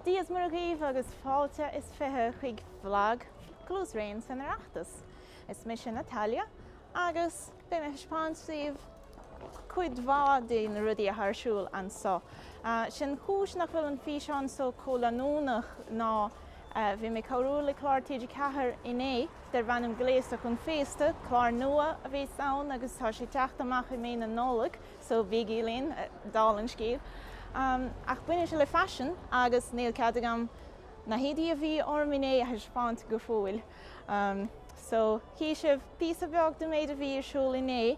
Dia's Muire dhaoibh agus fáilte is fiche chuig bhlag Cluas Rain san Oireachtas. Is mise Natalia agus beidh mé ag taispeáint daoibh cuid mhaith de na rudaí atá ar siúl anso. 'Sé an chúis nach bhfuil an físeán so chomh leanúnach ná bhí mé ag cabhrú le clár TG4 inné darb ainm Gléasta chun Féasta, clár nua a bheas ann agus tá sé ag teacht amach i mí na Nollag, so bígí linn, dála an scéil. Ach baineann sé le faisean agus níl cead agam na héadaí a bhí orm inné a thaispeáint go fóill. So tchífidh sibh píosa beag den méid a bhí ar siúl inné.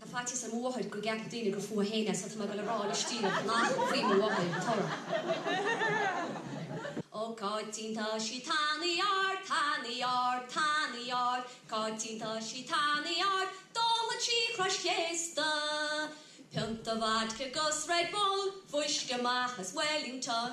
Tá faitíos ar mo mháthair go gceapfaidh daoine gur fúithi féin é so tá mé ag dul a rá le Stiabhna nach faoi mo mháthair an t-amhrán. Ó Cáitín tá sí tanaí ard, tanaí ard, tanaí ard, Cáitín tá sí tanaí ard, dáltha trí chrois chéasta, Pionta vodka 'gus Red Bull, fuisce amach as Wellington,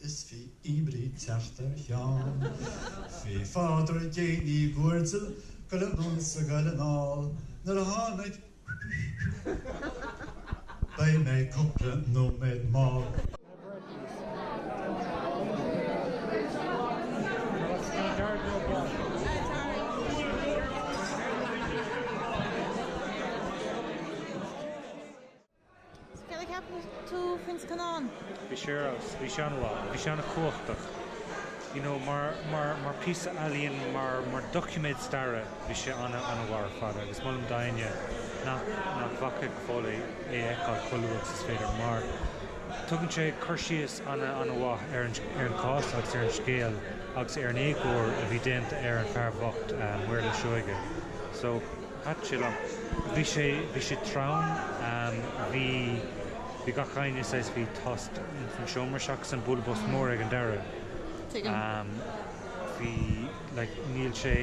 Is bhí oibrí teacht ar Sheán faoi Phádraig Uí Guairdill go raibh ann sa gcoill anall nuair a tháinig Beidh mé cupla nóiméad mall. Cad a cheapann tú faoin scannán? Bhí sé ar fheabhas, bhí sé an-mhaith, bhí sé an-chumhachtach, you know mar, mar, mar píosa ealaíon, mar, mar doiciméad staire, bhí sé ana, an-mhaith ar fad agus molaim d'éinne nach, nach bhfaca go fóill é, é a fheiceáil chomh luath agus is féidir mar tugann sé cur síos ana, an-mhaith ar an, ar an chás agus ar an scéal agus ar an éagóir a bhí déanta ar an fear bhocht, Maolra Seoige. So. Pat Gillan, Bhí sé, bhí sé trom, bhí, bhí gach éinne saghas, bhí tost insan seomra seachas an bualadh bos mór ag an deireadh. Tuigim. Bhí like níl sé,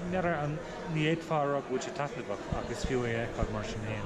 ní fhéadfá a rá go bhfuil sé taitneamhach ach is fiú é a fheiceáil mar sin fhéin.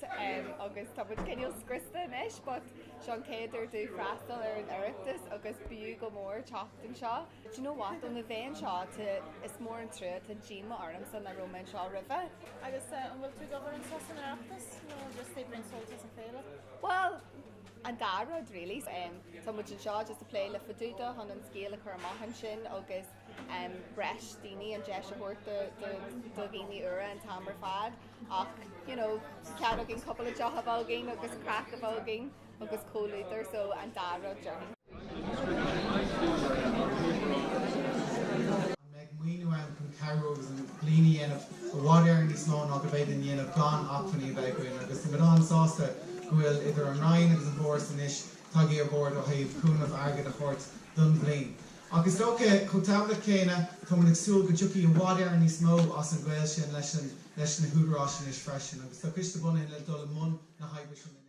T.M. agus tá muid cineál scriosta anois but seo an chéad uair dúinn freastal ar an Oireachtas agus b'fhiú go mór teacht anseo. Do you know what, óna bheith anseo, tá, is mór an trua, tá díoma ormsa nach raibh mé anseo roimhe. Agus an bhfuil tú ag obair anseo san Oireachtas nó just ag baint sult as an féile? Bhuel, an dá rud really. Tá muid anseo just ag plé le Fadúda chun an scéal a chur amach ansin agus. breis daoine, an deis a thabhairt do dhaoine úra an t-am ar fad ach you know cead againn cúpla deoch a bheith againn agus craic a bheith againn agus comhluadar so an dá rud déarfainn. Beidh maoiniú ann chun cabhrú agus an bliain a dhéanamh i bhfad Éireann níos mó ná go bhféadfainn a dhéanamh gan acmhainní a bheith againn agus tá muid an-sásta go bhfuil idir an Roinn agus an bhForas anois tagtha ar bord ó thaobh cúnamh airgid a thabhairt don bhliain. Ach is dócha, chomh tábhachtach céanna, tá muid ag súil go dtiocfaidh i bhfad Éireann níos mó as an ngaol sin leis an leis na húdaráis anois freisin, agus tá coiste bunaithe le dul i mbun na hoibre sin anois.